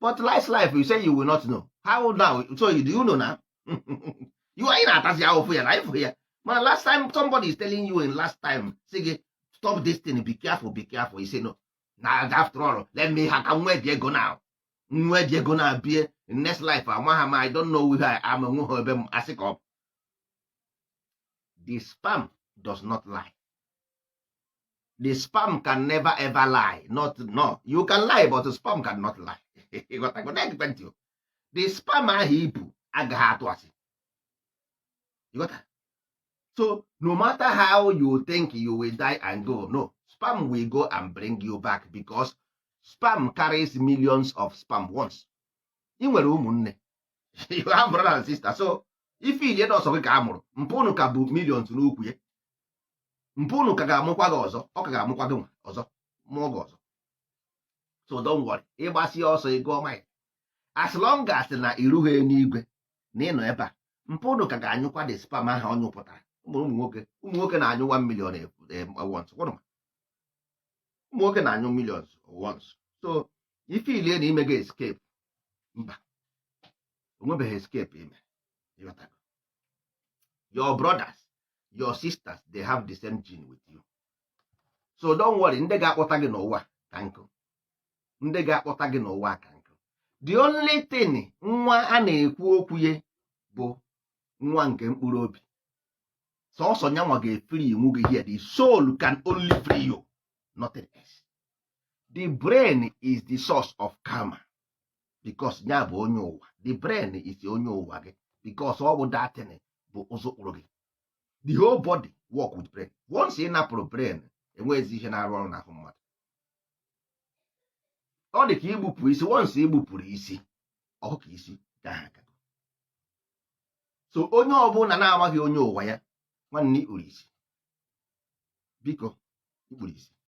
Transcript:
but last life you say you will not know how now so do you know now you are ị na-atazi ahụfụ ya na life a mana last time somebody is telling you in last time sị gị stop this thing be careful be careful you say no na after all let me ha ka nwee dị ego now nwee dị ego na abie next life amaha m i don't know where i am nwe ha ebe m asị ka ọ the sperm does not lie the sperm can never ever lie not no you can lie but sperm can not lie the sperm ahụ i bu agaghị atụ asị so no matter how you think you will die and go no sperm will go and bring you back because sperm carries millions of sperm once ị nwere ụmụnne you have brother and sister so ị feelie na ọ sọ gị ka a mụrụ mpa unu ka bu millions n'ukwu ya mpa unu ka ga-amụkwa gị ọzọ ọ ka ga-amụkwa gị ọzọ mụọ gị ọzọ so don't worry ị gbasịa ọsọ ị gụọ mile as long as na i rughị n'igwe na ị nọ ebe a mpa unu ka ga-anyụkwa the sperm ahụ ọ nyụpụtara ụmụ nwoke ụmụ nwoke na-anyụ 1 million e, e, once ụmụ nwoke na-anyụ millions once so ị feelie na i mego escape mba o nwebeghị escape i me your brothers your sisters they have the same gene with you so don't worry ndị ga-akpọta gị n'ụwa ka nkụ ndị ga-akpọta gị n'ụwa ka nkụ the only thing nwa a na-ekwu okwu ya bụ nwa nke mkpụrụ obi sọsọ nya nwa ga-efreenwu gị here the soul can only free you nothing else the brain is the source of karma because ya bụ onye ụwa the brain is onye ụwa gị because ọ bụ that thing bu ụzọ kpụrụ gị the whole body work with brain once ị napụrụ brain enweghịzi ihe na-arụ ọrụ n'ahụ mmadụ ọ dị ka igbupụ isi once i gbupụrụ isi ọ hụ ka i si gaa aga so onye ọbụla na-amaghị onye ụwa ya nwanne i kpuru isi biko i kpuru isi